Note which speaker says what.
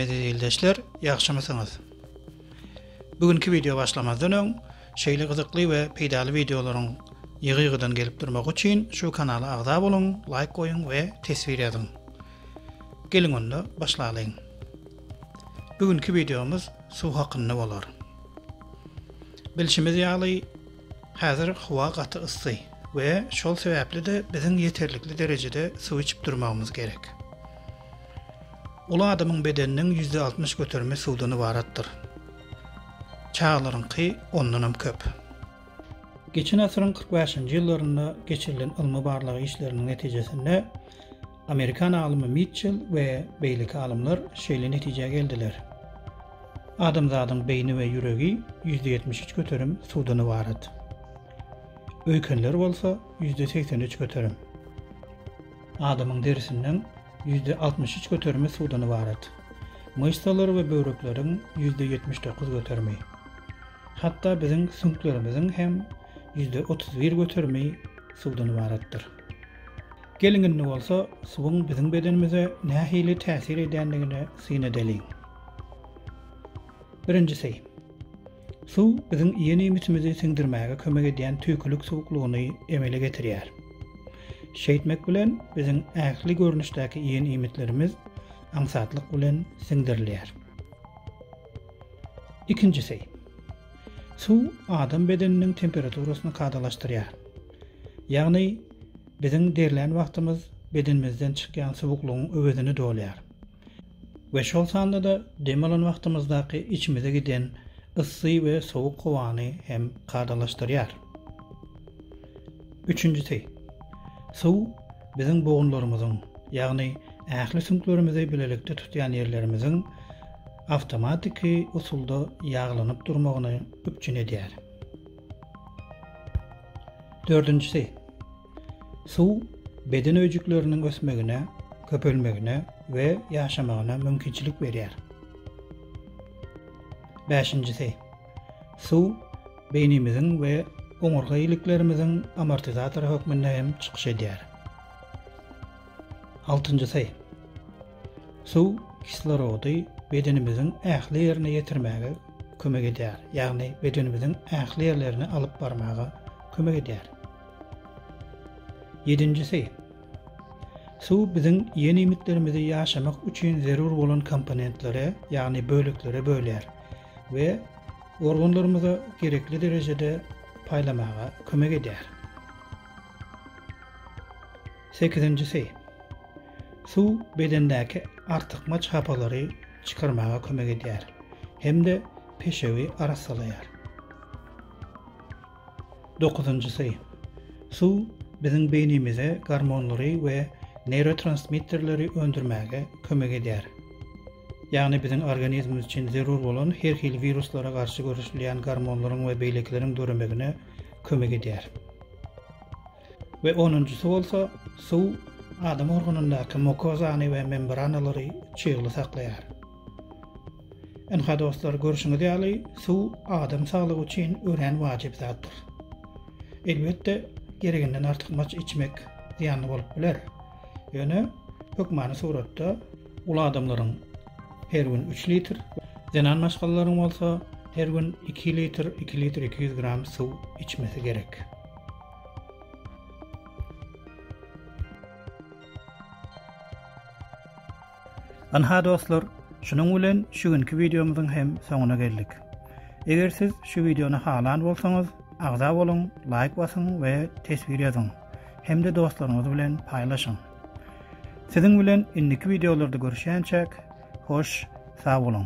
Speaker 1: Eziz ýagşymysyňyz? Bu günki wideo başlamazdan öň, şeýle gyzykly we peýdaly wideolaryň ýygy-ýygydan gelip durmagy üçin şu kanala agza boluň, laýk goýuň we teswir ýazyň. Geliň onda başlalyň. Bu günki wideomyz suw hakynda bolar. Bilşimiz ýaly, häzir howa gaty yssy we şol sebäpli-de biziň ýeterlikli derejede suw içip durmagymyz gerek. Uly adamyň bedeniniň ýüzde altmyş göterimi suwdan ybaratdyr. Çagalaryňky ondanam köp. Geçen asyryň kyrk bäşinji ýyllarynda geçirilen ylmy-barlag işleriniň netijesinde Amerikan alymy Mitçell we beýleki alymlar şeýle netijä geldiler, Adamzadyň beýni we ýüregi ýüzde ýetmiş üç göterim suwdan ybarat. Öýkenler bolsa ýüzde segsen üç göterim. Adamyň derisiniň ýüzde altmyş üç göterimi suwdan ybarat. Myşsalar we böwrekleriň ýüzde ýetmiş dokuz göterimi. Hatda biziň süňklerimiziň hem ýüzde otuz bir göterimi suwdan ybaratdyr. Geliň indi bolsa suwuň biziň bedenimize nähili täsir edýändigini syn edeliň. Birinjisi. Suw biziň iýen iýmitimizi siňdirmäge kömek edýän tüýkülik suwuklygyny emele getirýär. Şeýtmek bilen biziň ähli görnüşdäki iýen iýmitlerimiz aňsatlyk bilen siňdirilýär. Ikinjisi. Suw adam bedeniniň temperaturasyny kadalaşdyrýar. Ýagny Biziň derlän wagtymyz bedenimizden çykýan suwuklygyň öwezini dolýar we şol sanda-da dem alan wagtymyzdaky içimize giden yssy we sowuk howany hem kadalaşdyrýar. Üçünjisi, suw biziň bogunlarymyzyň, ýagny ähli süňklerimizi bilelikde tutýan ýerlerimiziň awtomatiki usulda ýaglanyp durmagyny üpjün edýär. Dördünjisi, suw beden öýjükleriniň ösmegine, köpelmegine we ýaşamagyna mümkinçilik berýär. Bäşinjisi, suw beýnimiziň we oňurga iliklerimiziň amortizator hökmünde hem çykyş edýär. Altynjysy, suw kislorody bedenimiziň ähli ýerine ýetirmäge kömek edýär, ýagny bedenimiziň ähli ýerlerine alyp barmaga kömek edýär. Ýedinjisi, suw biziň iýen iýmitlerimizi ýaşamak üçin zerur bolan komponentlere, ýagny böleklere bölýär we organlarymyza gerekli derejede paýlamaga kömek edýär. Sekizinjisi, suw bedendäki artykmaç hapalary çykarmaga kömek edýär hem-de peşewi arassalaýar. Dokuzynjysy, suw biziň beýnimize gormonlary we neýrotransmitterleri öndürmäge kömek edýär. Ýagny biziň organizmimiz üçin zerur bolan her hili wiruslara garşy göreşilýän gormonlaryň we beýlekileriň döremegine kömek edýär. we onunjysy bolsa suw adam organyndaky mokozany we membranalary çygly saklaýar. Ynha dostlar, görşüňiz ýaly, suw adam saglygy üçin örän wajyp zatdyr. Elbetde, gereginden artykmaç içmek zyýanly bolup biler, ýöne hökmany suratda, uly adamlaryň her gün üç litr, zenan maşgalalaryň bolsa her gün iki litr, iki litr iki ýüz gram suw içmesi gerek. Ynha dostlar, şunuň bilen şu günki wideomyzyň hem soňuna geldik. Eger siz şu wideony halan bolsaňyz, agza boluň, laýk basyň we teswir ýazyň. Hem-de dostlaryňyz bilen paýlaşyň. Siziň bilen indiki wideolarda görüşýänçäk, hoş, sag boluň.